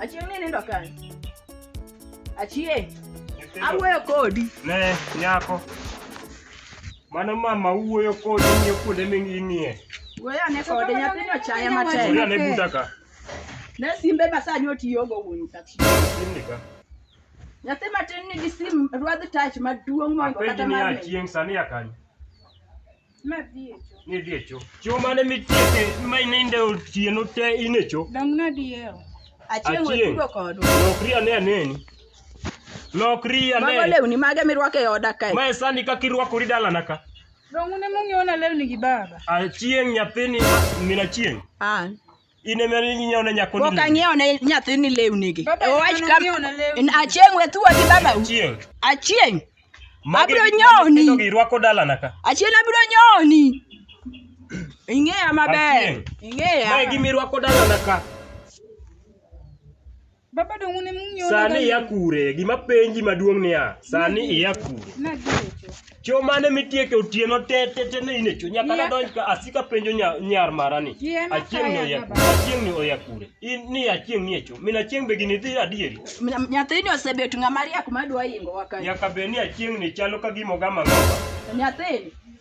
Achieng' ni nindo kanye? Achieng', awuoyo kodi. Ne, nyako. Mano mama wuoyo kodi ng'iyo kuonde ming'iye. Wuoyo ane kode, nyathini ochaya matek. Wuoyo ane buta ka. Ne simbe ma sani otiyogo wuon taksi. Simni ka. Nyathi matin nigi sim ruadh tach maduong' moingo Apenji kata ni mar min. achieng' sani a kanye? Nadhi e cho. Nidhi e cho. Cho mane mitieke ma ininde otieno te in e cho. Dong nadi e ot. Achieng' we Achieng'. tugo kodwa. Lokri ane aneni. Lokri Mago ane. lewni mage mirwako e oda kae? Mae sani kaka irwakori dalana ka. Dong un ema ung'iewona lewni gi baba. Achieng' nyathini min achieng'. An. in ema inyiewo ne nyako pok ang'iewo ne nyathini lewnigi owach ka achieng' we thuwa gi babau chieng' achieng' abiro nyoni irwako dalana ka achieng' abiro nyoni ing'eya maber ing'eya mae gima irwako dalana ka Baba dongu ne mung'yo. Sani iya kure? Gima penji maduong' niya, sani iya kure? Nagecho. Cho mane mitieke otieno te te te ne ine cho nyaka na donj ka asika penjo nya, nyar mara ni. Yie ma Achieng' ni kaya oya baba. kure? Achieng' ni oya kure? In ni achieng' ni e cho. Min achieng' be gini dhi adieri. Nya- Nyathini osebet ng'ama riek madwa ingowa kae. Nyaka be ni achieng' ni chalo ka gima ogama ng'ama. Nyathini.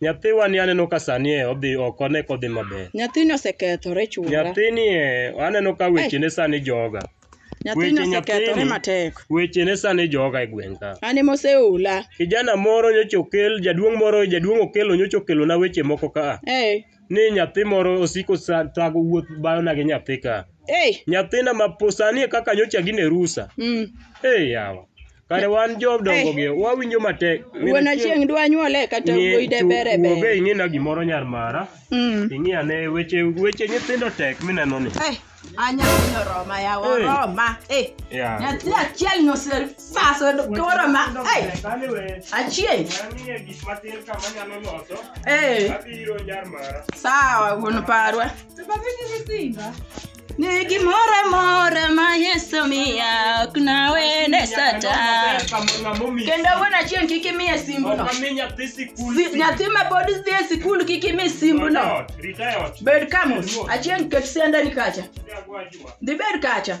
Nyathiwa ni aneno ka sani e odhi ok one kodhi maber. Nyathini osekethore chuora. Nyathini e aneno ka wechene sani joga. Nyathini weche osekethore nyathini- matek. Wechene sani joga e gweng' ka. An ema oseola. Kijana moro nyocha okel, jaduong' moro, jaduong' okelo nyocha okelona weche moko ka. Ee. Ni nyathi moro osiko sa- thago wuoth bayona gi nyathi ka. Ee. Nyathina ma po sani e kaka nyocha gine rusa. Mm. Ee yawa. Kare wan jodongo gi wawinjo matek. Wuon Achieng' dwa nyuole kata Ng'e- wuoyi de chu- bere wuo be bere. ing'e na gimoro nyar mara. Mm. Ing'e ane weche weche nyithindo tek mineno ni. Eh, anya kunyo roma ya Eh. roma. Eh, Yeah. nyathi achiel nyose faso koro ma. Eh, achieng'. Ang'e gik matin kama nyalo loso. Eh, Abiro nyar mara. sawa wuon parwa. Ni gimoro amora ma Yesu miya ok nawene sata. Kendo wuon achieng' kik imiye simbuno. Si- Nyathi ma pod dhi e sikul kik imi simbuno. Bed kamus. Achieng' ket siandani kacha. Dhi bed kacha.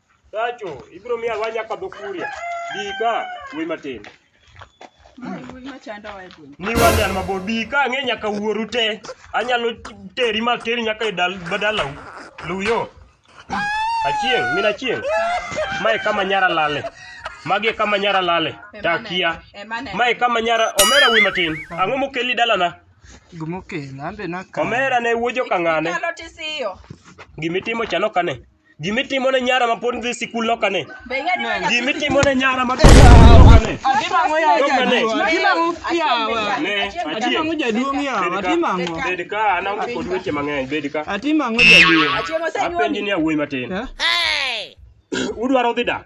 Tacho, ibiro miya alwa nyaka dho kuria. Bi ka, wuoyi matin. Wuoyi machando wa e gweng'. Ni wan an mabor, bi ka ang'e nyaka wuoru te. Anyalo teri ma teri nyaka e dal badalau. Luyo. Achieng', min achieng'. Mae kama nyara lale. Magi e kama nyara lale. Takia. Emane. Mae kama nyara omera wuoyi matin. Ang'o mokeli dalana? Gimokela ambe naka. Omera ne wuojo kang'ane. Inyalo tisiyo. Gimitimo chano kane. Gimitimo ne nyara ma pod dhi sikul loka ne. Be ing'e ni manya- Gimitimo ne nyara ma pod dhi sikul loka ne. Atimo ya Loka ne. jaduong'. Atimo yawa. Ne, Atimo achieng. ang'o jaduong' yawa. Bed ka- Atimo ang'o? Bed ka an ango kod weche mang'eny, bed ka. Atimo ang'o jaduong'? Achieng' osenyuomi. Apenji ni awuoyi matin. Eh? Udwaro dhi dak?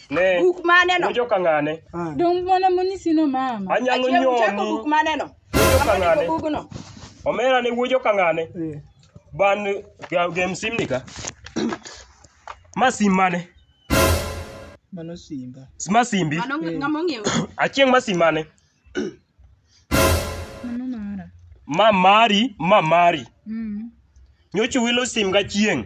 Ne. Buk mane no? Nojo kang'ane. Ah. Dong' mana monyisi no mama. Anyalo Achie uchako nyoni. buk mane no? Wuojo Kama ndiko kang'ane. bugno. Omera ne wuojo kang'ane. Eh. Ban ga- gem sim ni ka. Ma sim mane? Mano simba. Ma simbi. Mano ng- ng'ama ong'iewo. Achieng' ma sim mane? Mano mara. Ma mari, ma mari. Mm. Nyocha wilo sim ga chieng'.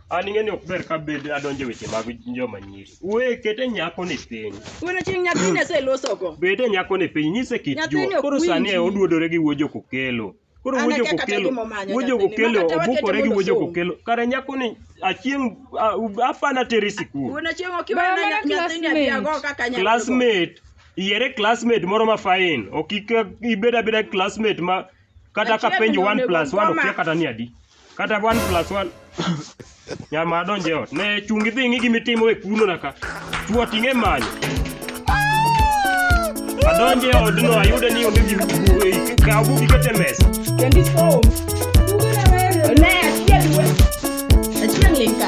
an ing'e ni ok ber ka bed adonjo e weche mag joma nyiri we kete nyako ni piny Wuon chieng' nyathini aselosogo. bede nyako ni piny nyise kit Nyathini juo ok koro sani e winji. oduodore gi wuojo kokelo koro An wuojo akia kata kokelo gima omanyo wuojo nyathini, kokelo ma kata wakete obukore gi mondo wuojo osom. kokelo kare nyako ni achieng' a- u- apana teri sikul Wuon chieng' ok iwena Mama nya- nyathini classmate. abiago kaka nyathini. classmate yiere classmate moro ma fine ok ik- ibed abeda classmate ma kata Achiel ka penjo to 1 onego plus 1 koma. okia kata ni adi kata 1 plus 1 nyama donje ot ne chungi dhi ng'i gimi timo e kuno na ka chuo ting'e manyo adonje odno ayude ni onge gimi kaw bugi kete mesa Kendi som. Ne achiel we. Achiel linka.